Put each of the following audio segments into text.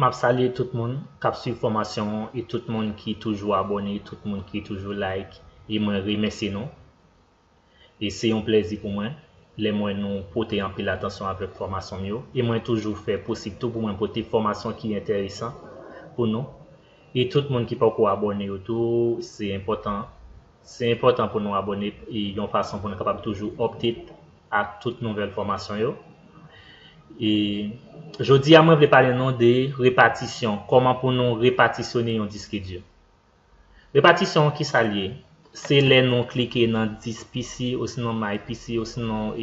Map salye tout moun kap swiv fòmasyon an e tout moun ki toujou abòne tout moun ki toujou like e mwen remèsye nou e se yon plèzi pou mwen lèm wè nou pote anpil atansyon avèk fòmasyon m yo e mwen toujou fè posib tou pou mwen pote fòmasyon ki entèresan pou nou e tout moun ki poko abòne yo tou se enpòtan Se enpòtan pou nou abone yon fason pou nou kapab toujou update ak tout nouvèl fòmasyon yo. E jodi a mwen vle pale nou de repatisyon, kòman pou nou repatisyone yon diske di. Repatisyon ki sa li ye? Se lè nou klike nan disk PC osinon my PC osinon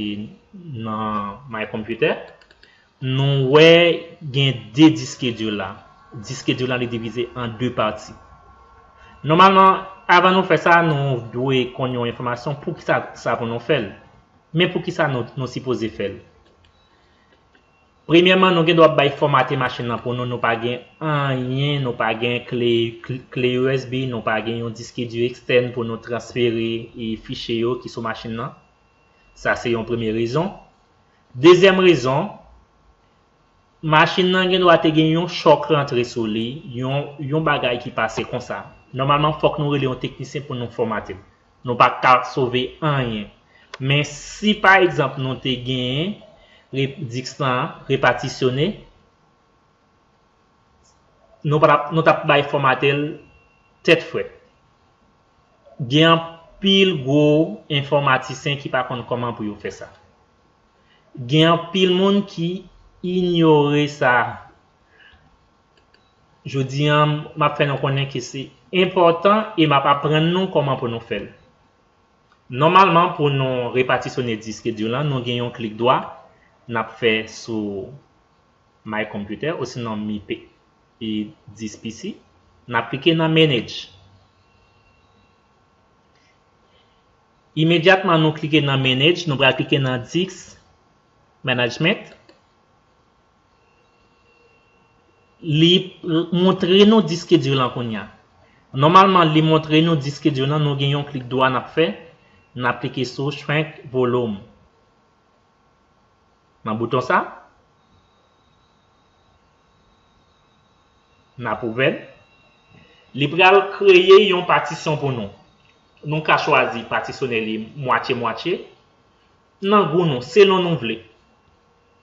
nan my computer Nou wè gen 2 diskedil la. Diskedil la li divize an 2 pati. Nòmalman, avan nou fè sa, nou dwe konn yon enfòmasyon poukisa sa pou nou fè l. Men poukisa nou sipoze fè l. Premyèman, nou gen dwa bay fòmate machin nan pou nou, nou pa gen anyen, nou pa gen kle usb, nou pa gen yon diske di ekstèn pou nou transfere fichye yo ki sou machin nan. Sa se yon premye rezon. Dezyèm rezon, machin nan gen dwa te gen yon chòk rantre sou li, yon yon bagay ki pase konsa. Nòmalman fòk nou rele yon teknisyen pou nou fòmate l. Nou pa ka sove anyen. Men si pa egzanp nou te gen re disk lan repatisyone, nou pa t ap nou t ap bay fòmate l tèt frèt. Gen anpil gwo enfòmatisen ki pa konn kòman pou yo fè sa. Gen anpil moun ki inyore sa. Jodi an, m ap fè nou konnen ke se enpòtan e m ap aprann nou kòman pou nou fè l. Nòmalman, pou nou repatisyone diske di lan, nou gen yon klik dwa n ap fè sou My Computer osinon mipe. Pi 10 pisi. N ap klike nan Manage. Imedyatman nou klike nan Manage, nou pral klike nan Disk Management. Li montre nou diske di lan kounye a. Nòmalman li montre nou diske di lan, nou gen yon klik dwa n ap fè, n ap klike sou Shrink Volume. Nan bouton sa. Nap ouvèl. Li pral kreye yon patisyon pou nou. Nou ka chwazi patisyone li mwatye mwatye. Nan gou nou, selon nou vle.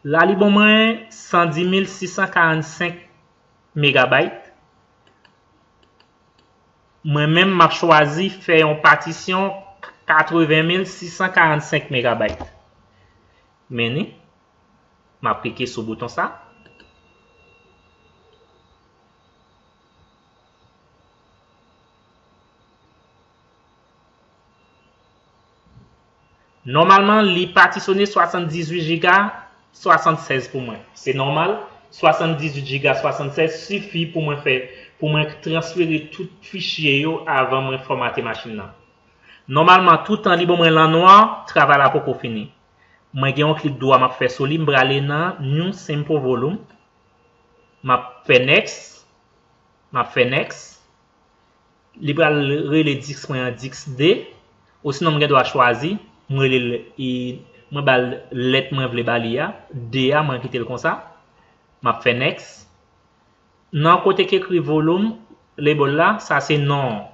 La li ban mwen 110645 megabayt. Mwen menm map chwazi fè yon patisyon 80645 megabayt. Men ni, map klike sou bouton sa. Nòmalman li patisone 78 jiga 76 pou mwen. Se nòmal, 78 jiga 76 sifi pou mwen fè pou mwen transfere tout fichye yo avan mwen fòmate machin nan. Nòmalman toutan li ban mwen lanwa, travay la poko fini. Mwen gen yon klik dwa map fè sou li, m prale nan New Simple Volume, map fè Next, map fè Next. Li pral rele Dix mwen an Dix 2, osinon m gen dwa chwazi, m rele l e mwen ba l lèt mwen vle ba li a, 2 a, mwen kite l konsa. M ap fè Next. Nan kote ki ekri Volume, Label la, sa se non an.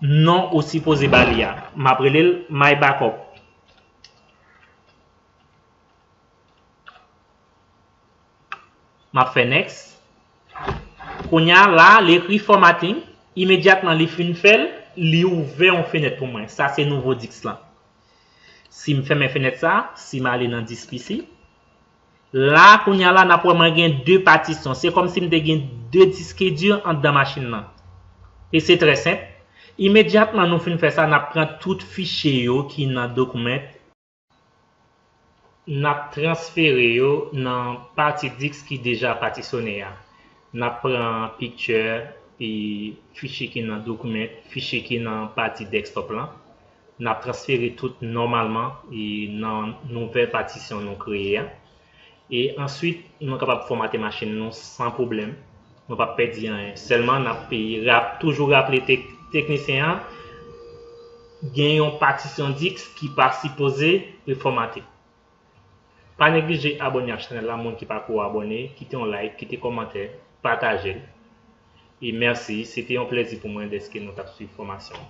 Non ou sipoze ba li a. M ap rele l My Backup. M ap fè next. Kounye a la li ekri formatting, imedyatman li fin fè l, li ouvè yon fenèt pou mwen. Sa se nouvo disk lan. Si m fèmen fenèt sa, si m ale nan disk pc, la kounye a la n ap wè mwen gen 2 patisyon. Se kòm si m te gen 2 diske di anndan machin lan. E se trè senp. Imedyatman nou fin fè sa, n ap pran tout fichye yo ki nan document. N ap transfere yo nan pati disk ki deja patisone a. N ap pran pikti fichye ki nan Document, fichye ki nan pati Desktop lan. N ap transfere tout nòmalman nan nouvèl patisyon nou kreye a. E answit nou kapab fòmate machin nou san pwoblèm. Nou pap pèdi anyen. Sèlman nap toujou raple teknisyen an gen yon patisyon diks ki pa sipoze li fòmate. Pa neglije abòne ak chanèl la moun ki pako abòne kite yon like, kite kòmantè, patajel. E mèsi se te yon plèzi pou mwen dèske nou tap swiv fòmasyon an.